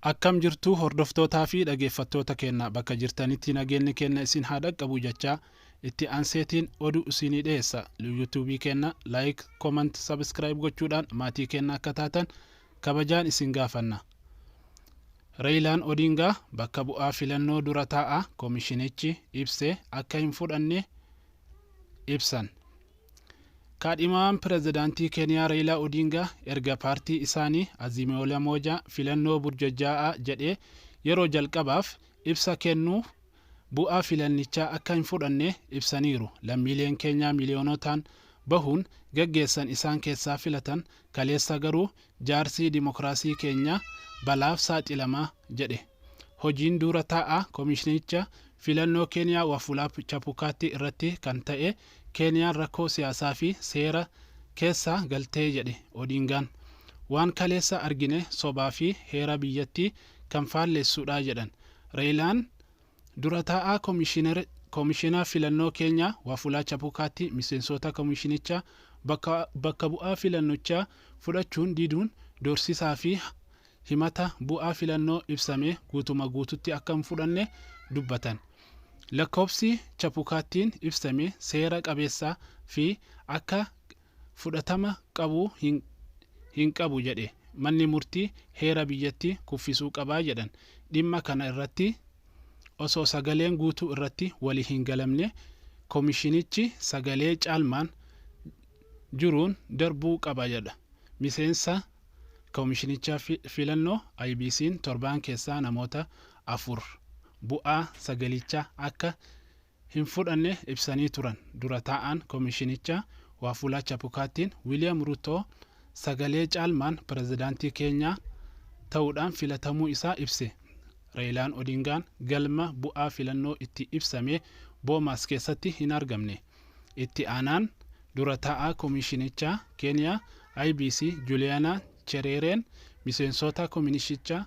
Akkam jirtu hordoftootaa fi dhageeffattoota keenna bakka jirtanitti nageenni keenna isin haa dhaqqabu jachaa itti anseetiin odu isiinii dhiyeessa lu youtube keenna like comment subscribe gochuudhaan maatii keenna akka taatan kabajaan isin gaafanna Reeyilaan Odingaa bakka bu'aa filannoo dura taa'aa komishinichi ibse akka hin fudhanne ibsan. Kaadhimamaan Pirezidaantii Keeniyaa Reeyilaa Odiingaa erga paartii isaanii Azimioola Moojaa filannoo burjajaa'aa jedhee yeroo jalqabaaf ibsa kennuu bu'aa filannichaa akka hin fudhanne ibsaniiru. Lammiileen Keenyaa miliyoonotaan bahuun gaggeessan isaan keessaa filatan kaleessa garuu jaarsi dimokiraasii keenya balaaf saaxilama jedhe. Hojiin duura taa'aa komishinicha filannoo Keeniyaa Wafulaap Chapukaatti irratti kan ta'e Keeniyaan rakkoo siyaasaa fi seera keessa galtee jedhe Odiingaan. Waan kaleessa argine sobaa fi heera biyyattii kan faallessuudha jedhan Reeyilaan dura taa'aa Komishina Filannoo Keenyaa Wafulaa Chapukaatti miseensoota komishinicha bakka bu'aa filannochaa fudhachuun diduun doorsisaa fi himata bu'aa filannoo ibsame guutuma guututti akka hin fudhanne dubbatan. Lakkoofsi Chapukaattiin ibsame seera qabeessa fi akka fudhatama qabu hin hin qabu jedhe manni murtii heera biyyatti kuffisuu qaba jedhan. Dhimma kana irratti osoo sagaleen guutuu irratti wali hin galamne komishinichi sagalee caalmaan juruun darbuu qaba jedha miseensa Komishinicha Filannoo IEBC'n torbaan keessaa namoota afur bu'aa sagalichaa akka hin fudhanne ibsanii turan dura taa'aan komishinichaa Waafulaa Chapukaattiin Wiiliyaam Ruutoo sagalee caalmaan pirezidaantii Keenyaa ta'uudhaan filatamuu isaa ibse. Reeyilaan Odiingaan galma bu'aa filannoo itti ibsame Boomaas keessatti hin argamne. Itti aanaan dura taa'aa komiishinichaa Keeniyaa IBC Juliyaanaa Chereereen miseensoota kominishichaa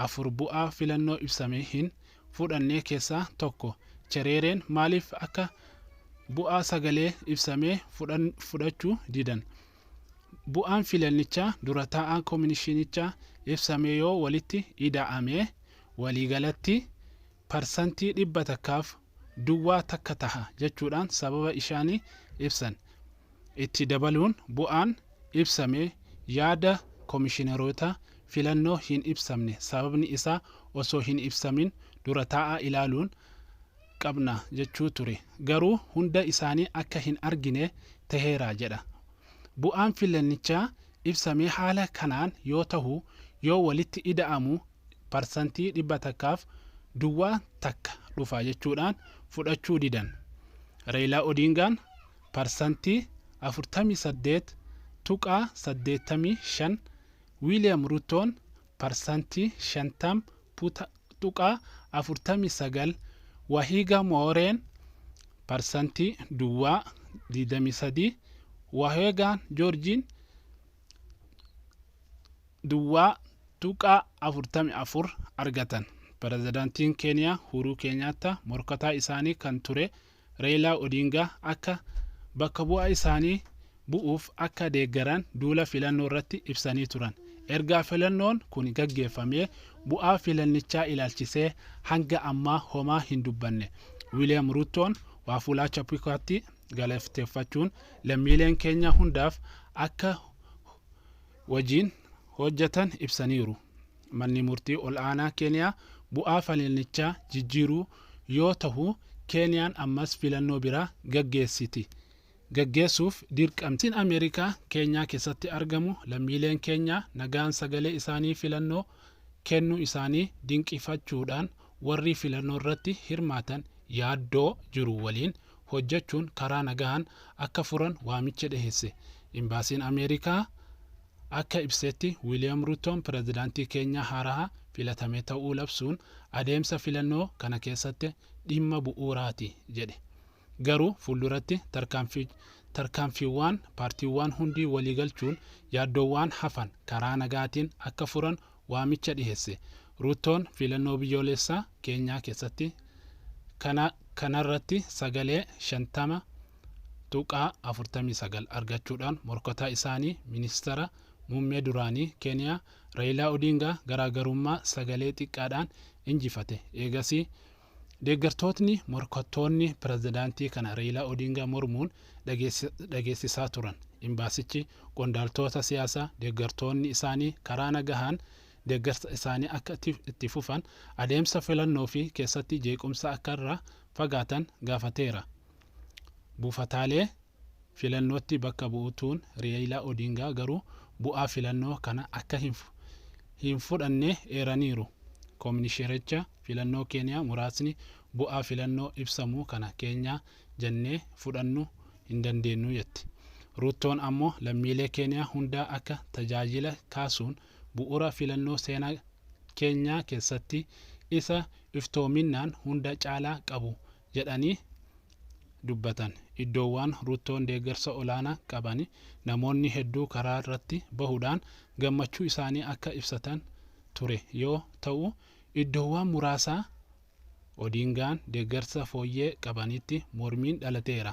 afur bu'aa filannoo ibsamee hin fudhannee keessaa tokko Chereereen maaliif akka bu'aa sagalee ibsamee fudhachuu didan bu'aan filannichaa dura taa'aa kominishinichaa ibsamee yoo walitti ida'amee waliigalatti parsantii dhibba takkaaf duwwaa takka taha jechuudhaan sababa ishaanii ibsan. Itti dabaluun bu'aan ibsame yaada komishineroota filannoo hin ibsamne sababni isaa osoo hin ibsamin dura taa'aa ilaaluun qabna jechuu ture. Garuu hunda isaanii akka hin argine taheera jedha. Bu'aan filannichaa ibsamee haala kanaan yoo tahu yoo walitti ida'amu parsantii dhibba takkaaf duwwaa takka dhufa jechuudhaan fudhachuu didan. Reeyilaa Odiingaan parsantii 48.85, Wiiliyam Ruttoon parsantii 50.49 Wahiga Mooreen parsantii duwwaa 23 Wahiga Joorjiin duwwaa tuqaa 44 argatan. Pirezidantiin Keeniyaa Uhuruu Keenyaattaa morkataa isaanii kan ture Reeyilaa Odiingaa akka bakka bu'aa isaanii bu'uuf akka deeggaran duula filannoorratti ibsanii turan. Ergaa filannoon kun gaggeeffamee bu'aa filannichaa ilaalchisee hanga ammaa homaa hin dubbanne Wiiliyaam Ruuttoon Waafulaa Chapukaatti galateeffachuun lammiileen keenya hundaaf akka wajiin hojjetan ibsaniiru. Manni Murtii Ol'aanaa Keeniyaa bu'aa falilnichaa jijjiiruu yoo tahu Keeniyaan ammas filannoo biraa gaggeessiti gaggeessuuf dirqamti. Embaasiin Ameerikaa Keenyaa keessatti argamu lammiileen Keenyaa nagaan sagalee isaanii filannoo kennuu isaanii dinqifachuudhaan warrii filannoorratti hirmaatan yaaddoo jiru waliin hojjechuun karaa nagahaan akka furan waamicha dhiheesse. Imbaasiin Ameerikaa akka ibsetti Wiliyam Ruuttoon pirezidaantii Keenyaa haaraha filatame ta'uu labsuun adeemsa filannoo kana keessatti dhimma bu'uuraati jedhe. Garuu fuulduratti tarkaanfiiwwaan paartiiwwaan hundi waliigalchuun yaaddoowwaan hafan karaa nagaatiin akka furan waamicha dhiheesse. Ruuttoon filannoo biyyooleessaa Keenyaa keessatti kana kanarratti sagalee 50.49 argachuudhaan morkataa isaanii ministara muummee duraanii Keeniyaa Rayilaa Odiingaa garaagarummaa sagalee xiqqaadhaan injifate. Eegasii Deeggartootni, morkattoonni, pirezidaantii kana Reeyilaa Odiingaa mormuun dhageessisaa turan. Imbaasichi qondaaltoota siyaasaa deeggartoonni isaanii karaa nagahaan deeggarsa isaanii akka itti fufan, adeemsa filannoo fi keessatti jeequmsa akka irraa fagaatan gaafateera. Buufataalee. filannootti bakka bu'u tuun Reeyilaa Odiingaa garuu bu'aa filannoo kana akka hin fudhanne eeraniiru. Kominishericha filannoo Keeniyaa muraasni bu'aa filannoo ibsamu kana keenyaa jennee fudhannu hin dandeennu jetti. Ruuttoon ammoo lammiilee Keeniyaa hundaa akka tajaajila kaasuun bu'ura filannoo seenaa Keenyaa keessatti isa iftoominnaan hunda caalaa qabu jedhanii dubbatan. Iddoowwaan Ruttoon deeggarsa olaanaa qaban namoonni hedduu karaa irratti bahuudhaan gammachuu isaanii akka ibsatan ture yoo ta'u, iddoowwaan muraasa Odiingaan deeggarsa fooyyee qabanitti mormiin dhalateera.